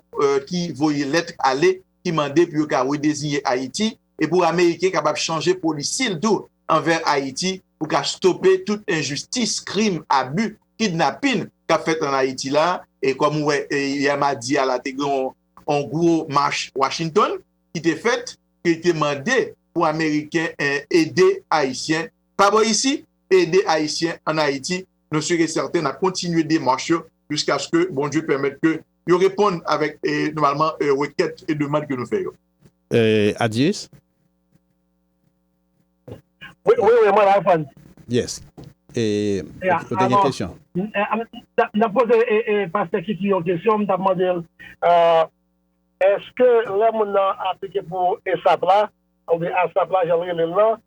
ki voye lèt ale, ki mande pou yo ka redeziye Ayiti. e pou ameriken kapab chanje polisi l tou anvè Ayiti pou ka stope tout enjistis, krim, abi, kidnapin k ap fèt an Ayiti la e kòm ou wè yè madi a la te gen yon gwo mach Washington ki te fèt ki te mande pou ameriken ede ayisyen pa bò isi ede ayisyen an Ayiti nou sur e sèten n ap kontinye demach yo jiskaske Bondye pèmèt ke yo reponn avèk nòmalman rekèt e demand ke nou fè yo. Adies. Wi wi wi mwen la reponn. Yes ou te gen kesyon. M tap poze pastè Kiki yon kesyon m tap mande l eske lè moun nan aplike pou esap la oubyen asap la jan l rele l lan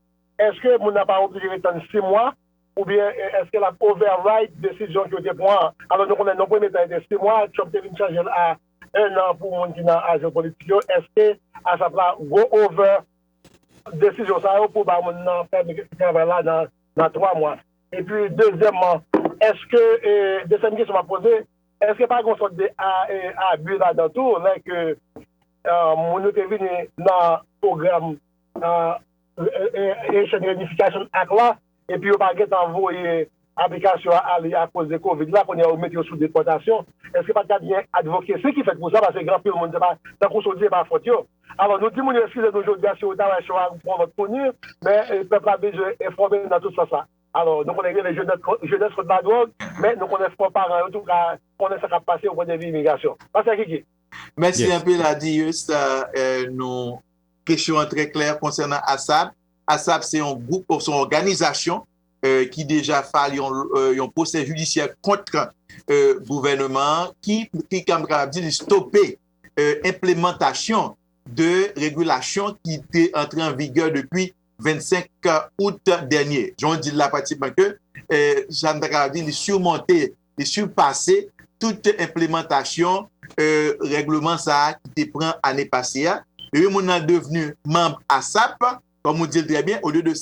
eske moun nan pa oblije ret tann 6 mwa oubyen eske lap override desizyon ke yo te pran an alò nou konnen nan premye tan e te 6 mwa Trump te vin chanje l a 1 an pou moun ki nan ajan politik yo eske asap la go over desizyon sa yo pou ba moun nan pèmi travay la nan 3 mwa epi dezyèman eske desyèm kesyon map poze eske pa gon sòt de abi ladan tou lè ke moun yo te vini nan pwogram Haitian Reunification Act la. epi yo pa gentan voye aplikasyon an ale akoz de covid la kounye a yo mete yo sou depòtasyon eske pat ka gen advocacy ki fèt pou sa paske gen anpil moun se pa tankou sa w di se pa fòt yo alò nou di moun yo eskize nou jodi a si yo ta wè show a pou yon lòt kounye men pèp la bezwen enfòme nan tout sans la alò nou konnen gen le jenès kont la dwòg men nou konnen fò paran yo tou ka konnen sa kap pase yon pwen de vi imigrasyon pastè Kiki. Mèsi anpil Adieu sa nou kesyon an trè klè konsènan Assad. ASAP se yon gwoup oswa yon òganizasyon ki deja file yon pwosè jidisyè kont gouvèneman an ki nou kapab di li stope enplemantasyon de regilasyon ki te antre an vigè depi 25 out dènye. Jan w di l la pratikman ke sa nou ta kapab di li surmonte te sipase tout enplemantasyon règleman sa a ki te pran ane pase a, epi moun nan devni manb asap, kòm ou di l trè byen, olye de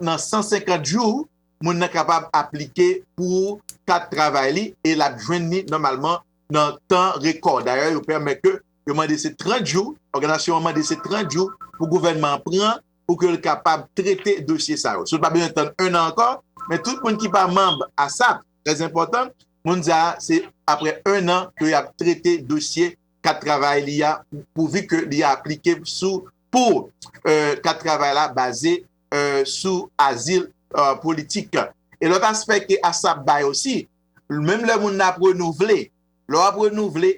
nan 150 jou, moun nan kapab aplike pou kat travay li e l ap jwenn li nòmalman nan tan rekò. Dayè, yo pèmèt ke yo mande se 30 jou, òganizasyon an mande se 30 jou pou gouvènman an pran pou ke l kapab trete dosye sa yo. Si w pa bezwen tann 1 an ankò, men tout moun ki pa manb asap, trè enpòtan, moun sa a se aprè 1 an ke y ap trete dosye kat travay li a pouvi ke li aplike sou pou kat travay la baze sou azil politik. E lòt aspè ke asap bay osi, menm lè moun nan ap renouvle, lè w ap renouvle,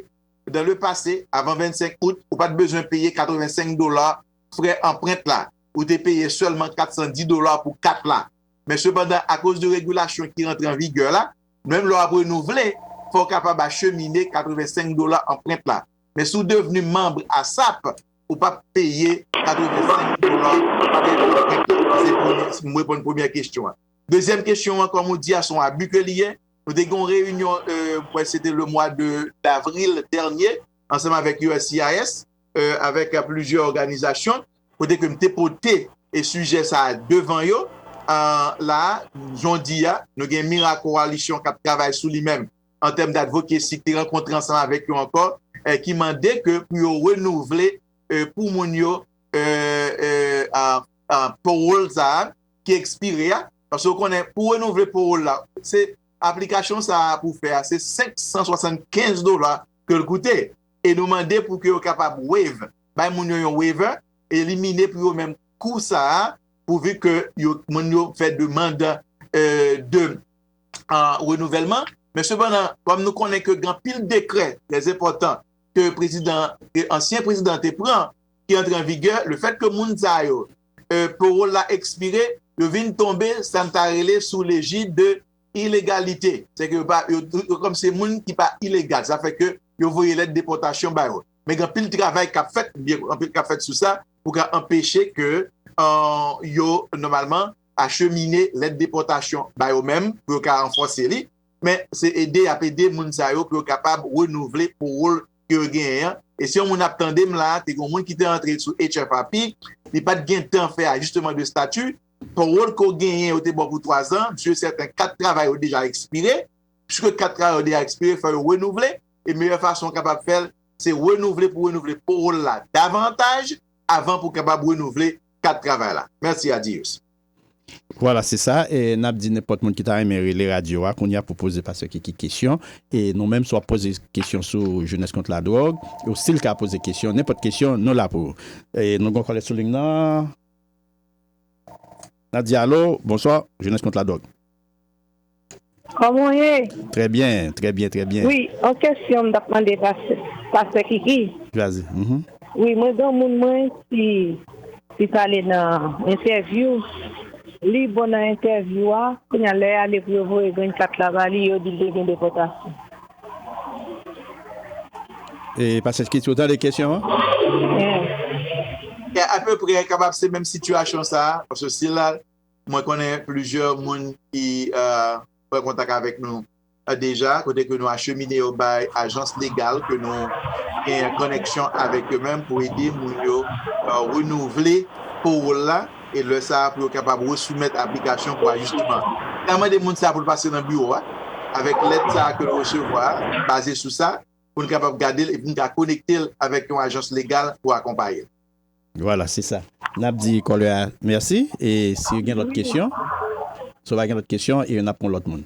dan le pase, avan 25 out, ou pa t bezwen peye 85 dola frè anprent la, ou te peye sèlman 410 dola pou kat la. Men sepandan, akoz de regilasyon ki rantre an vigè la, menm lè w ap renouvle, fò w kapab achemine 85 dola anprent la. Men si w devni manb asap, ou p ap peye 85 dola pou anprent la. Se pou m reponn premyè kesyon an. Dezyèm kesyon an, kòm ou di a, se yon abi ke li ye. Nou te gen yon reyinyon, mwen kwè se te lemwa de davril dènye, ansanm avèk uscis, avèk plizyè òganizasyon, kote ke m te pote sijè sa a devan yo. La a, jodi a, nou gen Mira Coalition k ap travay sou li menm an tèm d'advocacy, te rankontre ansanm avèk yo ankò, ki mande ke pou yo renouvle pou moun yo parole sa a ki ekspire a. Paske ou konnen, pou renouvle parole la, se aplikasyon sa a pou fè a, se 575 dola ke l koute e nou mande pou ke yo kapab waive, bay moun yo yon waiver, elimine pou yo menm kou sa a pouvi ke moun yo fè demand de renouvèlman. Men sepandan, kòm nou konnen ke gen anpil dekrè trè enpòtan ke prezidan, ke ansyen prezidan te pran ki antre an vigè, le fèt ke moun sa yo parole la ekspire, yo vin tonbe sa n ta rele sou lejid de ilegalite, se ke yo pa, yo kòm se moun ki pa ilegal, sa fè ke yo voye lèt depòtasyon ba yo. Men gen anpil travay k ap fèt, gen anpil k ap fèt sou sa pou ka anpeche ke yo nòmalman achemine lèt depòtasyon ba yo menm pou yo ka ranfòse li. Men se ede y ap ede moun sa yo pou yo kapab renouvle powol ke yo genyen an. E si yon moun ap tande m la, te gen yon moun ki te antre sou HFAP, li pa t gen tan fè ajisteman de stati, Pawòl ke w genyen yo te ba w pou twa zan, msye sèten kat travay yo deja ekspire. Piske kat travay yo deja ekspire, fò yo renouvle, e meyè fason w kapab fè l, se renouvle pou renouvle pawòl la davantaj avan pou w kapab renouvle kat travay la. Mèsi. Adiyos. Vwala se sa e n ap di nenpòt moun ki ta renmen rele radyo a kounye a pou poze paseke ki kesyon e nou menm si w ap poze kesyon sou jenès kont ladwòg ou stil ka poze kesyon nenpòt kesyon nou la pou ou e nou gen yon kòlè sou ling nan. Nadia, Alo, bonswa, Jenès kont ladwòg. Kòman w ye? Trè byen, trè byen, trè byen. Wi, yon kesyon m t ap mande pastè, pastè Kiki. Vazi, m. Wi, mwen gen yon moun mwen ki li t ale nan entèvyou, li bon nan entèvyou a, kounye a lè y ale pou yo voye green card la ba li, yo di l te gen depòtasyon. E pase kit yo tande kesyon an. Apeprè kapab se menm sitiyasyon sa a, paske si la mwen konnen plizyè moun ki pran kontak avèk nou deja kote ke nou achemine yo bay ajans legal ke nou gen konnèksyon avèk yo menm pou ede moun yo renouvle powol la. e lè sa a pou yo kapab resoumèt aplikasyon pou ajisteman an. Li ka mande moun sa a pou l pase nan biwo a avèk lèt sa a ke l resevwa a, baze sou sa, pou n kapab gade l epi n ka konekte l avèk yon ajans legal pou akonpaye l. Vwala, se sa. N ap di kòlè a mèsi e si gen lòt kesyon, si w pa gen lòt kesyon, e n ap pran lòt moun.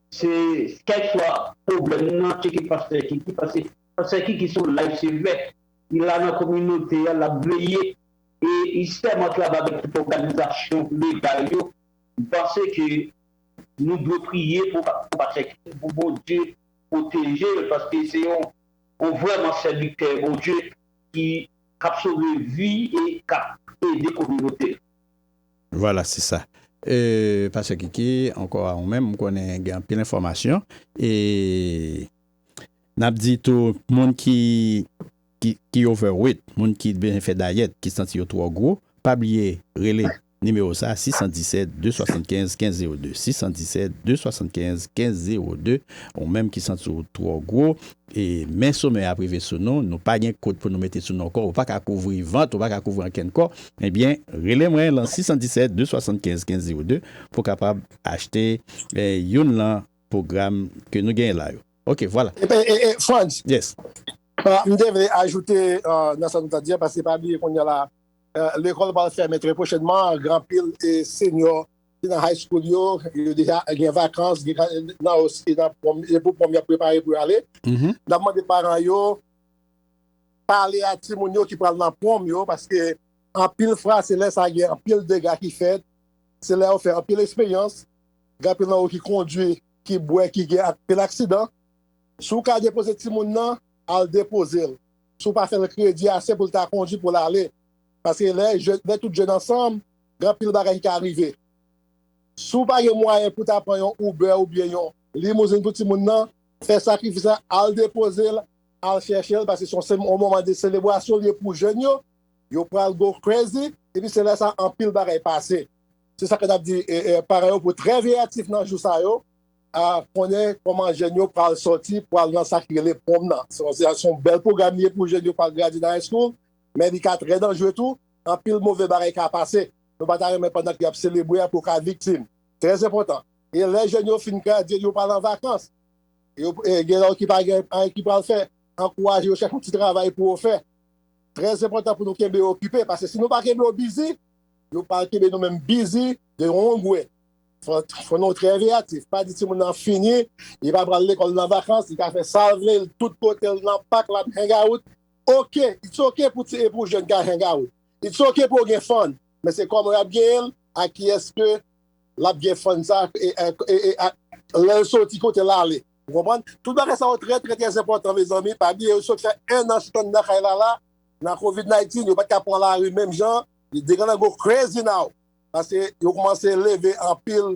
Se kèk fwa pwoblèm nan tcheke pastè Kiki pase pastè Kiki son life sevè li la nan kominote a lap veye e li sèman travay avèk tout òganizasyon legal yo m panse ke nou dwe priye pou pastè Kiki pou Bondye pwoteje l paske se yon vrèman sèvitè Bondye ki kap sove vi e kap ede kominote l. Vwala se sa. Eeuh pastè Kiki ankò a ou menm m konnen gen anpil enfòmasyon e nap di tou moun ki ki over weight moun ki bezwen fè dayèt ki santi yo twò gwo pa bliye rele nimewo sa 617 275 1502 617 275 1502 ou menm ki santi w twò gwo Men somè ap rive sou nou, nou pa gen kot pou nou mete sou nou kò, ou pa ka kouvri vant, ou pa ka kouvri ankenn kò, ebyen rele mwen lan 617 275 1502 pou kapab achte youn lan pwogram ke nou genyen la yo. Ok vwala. E Frantz. Yes. M te vle ajoute nan sa nou ta di a, paske pa bliye kounya la lekòl pral fèmen trè pwochènman ak anpil senyò. ki nan high school yo, yo deja gen vakans, gen nan osi nan prom, e pou prom yap prepare pou yo ale. Mm-hmm. Nap mande paran yo pale a ti moun yo ki pral nan prom yo paske anpil fwa se lè sa gen anpil dega ki fèt, se lè yo fè anpil eksperyans, gen anpil nan yo ki kondwi, ki bwè, ki gen anpil aksidan. Si w ka depoze ti moun nan, al depoze l. Si w pa fè l kredi ase pou l ta kondwi pou l ale. Paske lè tout jèn ansanm, Gen anpil bagay ki ka rive. Si w pa gen mwayen pou w ta pran yon Uber oubyen yon limouzin pou timoun nan, fè sakrifis la, al depoze l, al chèche l paske se yon moman de selebrasyon li ye pou jèn yo. Yo pral go crazy epi se lè sa a anpil bagay pase. Se sa ke n ap di paran yo pou trè veyatif nan jou sa yo, konnen kòman jèn yo pral sòti pou al nan sa ki rele prom nan. Se yon bèl pwogram li ye pou jèn yo pou al gradye nan high school, men li ka trè danjre tou. anpil move bagay ka pase nou pa ta renmen pandan ke yap selebre a pou ka viktim. Trè enpòtan. E lè jèn yo fin gradye yo pral an vakans e gen nan yo ki pa gen anyen ki pral fè, ankouraje yo chèche yon ti travay pou yo fè. Trè enpòtan pou nou kenbe yo okipe paske si nou pa kenbe yo bizi, yo pral kenbe nou menm bizi de yon gwe. Fò nou trè veyatif, pa di timoun nan fini, li pa pral lekòl nan vakans, li ka fè sa l vle, tout kote l nan pak lap hangout, Ok, it's ok pou ti e pou jeune ka hang out. It's ok pou yo gen fun. Men se koman yap genyen l, ak kiyes ke lap gen fun sa e ak lè yo soti kote lale. Ou konprann? Tout bagay sa yo trè trè trè enpòtan mezanmi. Pa bliye yo sot fè 1 an chita andan kay la la nan covid 19 yo pat ka pran lari menm jan. They gonna go crazy now paske yo koumanse leve anpil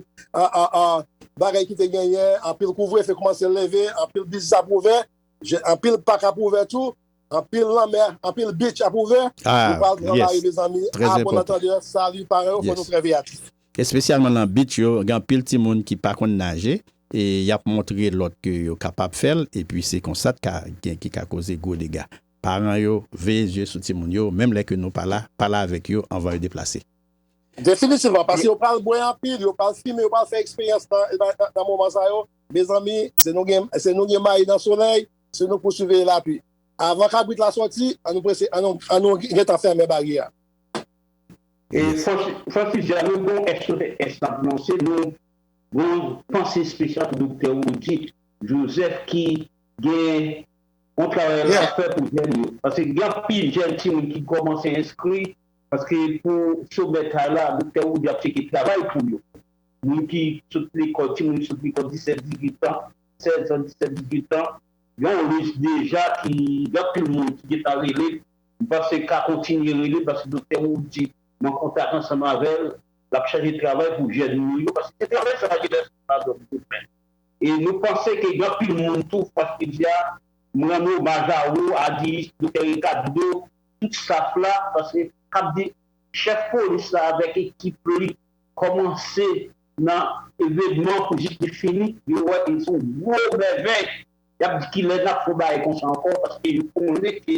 bagay ki te genyen, anpil kouvrefe koumanse leve, anpil biznis ap ouvè. Je anpil pak ap ouvè tou, anpil lanmè, anpil beach ap ouvè. Nou pral travay mezanmi a bon antandè. Salut paran yo fò nou trè veyatif. Espesyalman nan beach yo gen anpil timoun ki pa konn naje e yap montre lòt ke yo kapab fèl epi se konsa t ka gen ki ka koze gwo dega. Paran yo veye zye sou timoun yo menm lè ke nou pa la, pale avèk yo anvan yo deplase. Definitivman paske yo pral bwè anpil, yo pral fimen, yo pral fè eksperyans nan moman sa yo. Mezanmi, se nou gen se nou gen mayi nan solèy, se nou pou siveye lapli. Avan kabrit la sòti, an nou prese an nou an nou gen tan fèmen baryè a. E san ti di a nou gon SOS k ap lanse, nou gon panse espesyal pou Doktè Wody Joseph ki gen yon travay l ap fè pou jèn yo. Paske gen anpil jèn timoun ki kòmanse enskri paske pou somè kay la Doktè Wody ap cheke travay pou yo. moun ki sot lekòl, timoun ki sot lekòl 17, 18 tan, 16 tan, 17, 18 tan, gen yon lis deja ki gen anpil moun ki gentan rele, m panse ka kontinye rele paske Doktè Roody m an kontak ansanm avè l, l ap chaje travay pou jèn nou yo paske se travay sa ki lè sòt la dòmi yo fè. E nou panse ke gen anpil moun tou paske jodi a m rann omaj a ou, Ady, Doktè Ricardo, tout staff la paske k ap di chèf polis la avèk ekip li, Kòmanse nan evenman pou jis li fini, yo wè e son gwo mèvèy. Yap di kilè nap fon bagay konsa ankò paske yo konnen ke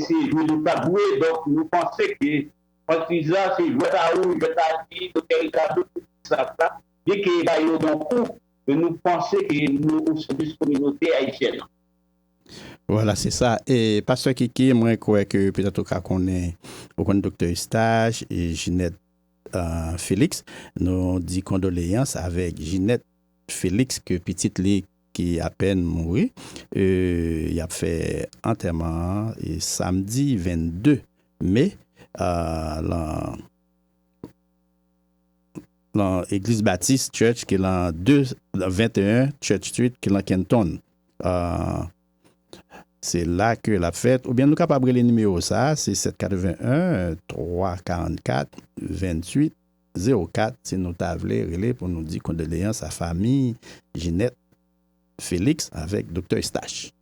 se jwe nou tap jwe donk nou panse ke franchiz la se jwèt a ou, jwèt a li, Dòktè Ricardo tout ti staf la byen ke bay yo yon kou men nou panse ke nou o sèvis kominote ayisyèn nan. Voilà se sa e pastè kiki mwen kwè ke petèt ou ka konnen ou konn doktè Eustache e Ginette Felix nou di kondoleyans avèk Ginette Felix ke pitit li ki apèn mouri e yap fè antèman an samdi 22 me lan lan eglise Baptiste church ki lan 2 21 church street ki lan Kenton. Se la ke l ap fèt. Oubyen nou kapab rele nimewo sa a, se 781 344 28 04, si nou ta vle rele pou nou di kondoleyans a fanmi Ginette Felix avèk Doktè Eustache.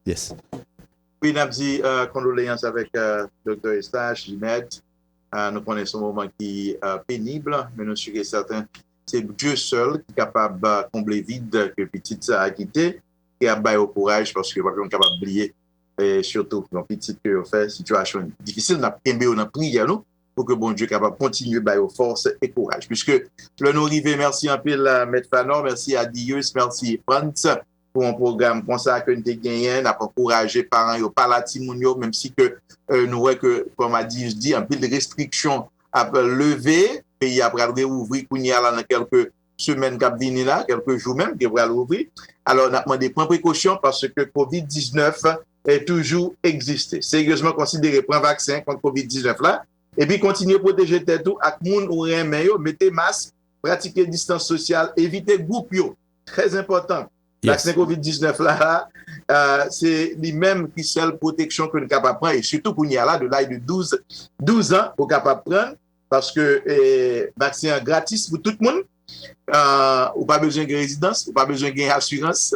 Yes. Wi, n ap di kondoleyans avèk Doktè Eustache, Ginette. Nou konnen se yon moman ki penib, men nou si e sèten Se Bdye sèl ki kapab konble vid ke pitit sa a kite e ap ba yo kouraj paske yo pap janm kapab bliye sitou yon pitit ke yo fè sitiyasyon difisil nap kenbe yo nan priyè nou pou ke Bondye kapab kontinye ba yo fòs e kouraj piske lè nou rive mèsi anpil mèt Phanor mèsi Adius mèsi Frantz. pou yon pwogram konsa ke n te genyen, n ap ankouraje paran yo pale a timoun yo, menm si ke nou wè ke, kòm Adius di, anpil restriksyon ap leve, peyi a pral reouvri kounye a la nan kèlke semèn k ap vini la, kèlke jou menm ke pral ouvri. Alò, n ap mande pran prekosyon paske covid 19 toujou egziste. Seryezman konsidere pran vaksen kont covid 19 la, epi kontinye pwoteje tèt ou ak moun ou renmen yo, mete mask, pratike distans sosyal, evite gwoup yo. Très important. Vaksen covid 19 la se li menm ki sèl pwoteksyon ke nou kapab pran e sitou kounye a la de laj de 12 an ou kapab pran paske vaksen an gratis pou tout moun ou pa bezwen gen rezidans, ou pa bezwen gen asirans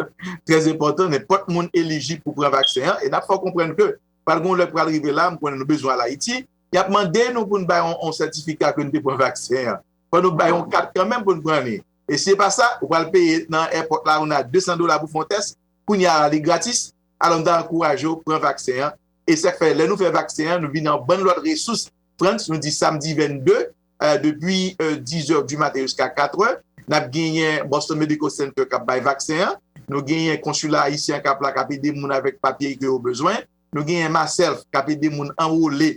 très important, nenpòt moun elijib pou pran vaksen an e nap fè w konprann ke pral gen yon lè k pral rive la m konnen nou bezwen al Ayiti yap mande nou pou nou bay yon sètifika ke nou te pran vaksen an fò nou bay yon kat kanmenm pou nou pran li. E si e pa sa, ou pral peye nan èpòt la ou nan 200 dola pou fè yon tès, kounye a la li gratis. Alò m ta ankouraje w pran vaksen an. E sa k fè lè nou fè vaksen an nou vin yon bann lòt resous, Frantz, nou di samdi 22, depi dizè di maten jiska katrè, n ap genyen Boston Medical Center k ap bay vaksen an, nou genyen konsila ayisyen an k ap la k ap ede moun avèk papye ke yo bezwen, nou genyen Maself k ap ede moun anwole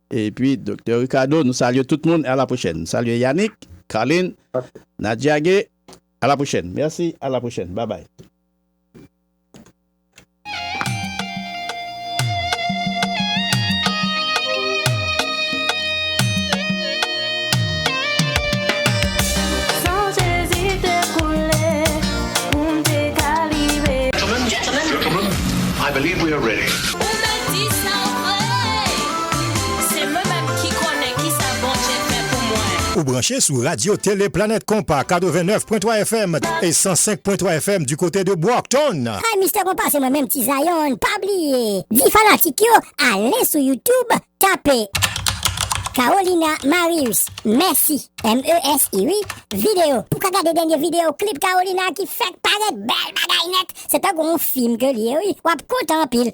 Epi Doktè Ricardo nou salye tout moun e a la pwochèn. Salye Yanick, Carline, Nadia Gay a la pwochèn. Mèsi a la pwochèn babay. Se mwen menm ki konnen kisa Bondye fè pou mwen. Ou branche sou Radio Télé Planète Konpa 89 pwen 3 FM e 105 pwen 3 FM du kote de Brockton. Hi Mister Konpa se mwen menm ti Zion pa bliye di fanatik yo ale sou YouTube tape Carolina Marius mèsi MESI wi video pou ka gade dènye video klip Carolina ki fèk parèt bèl bagay nèt se tankou yon fim ke li ye wi wap kontan anpil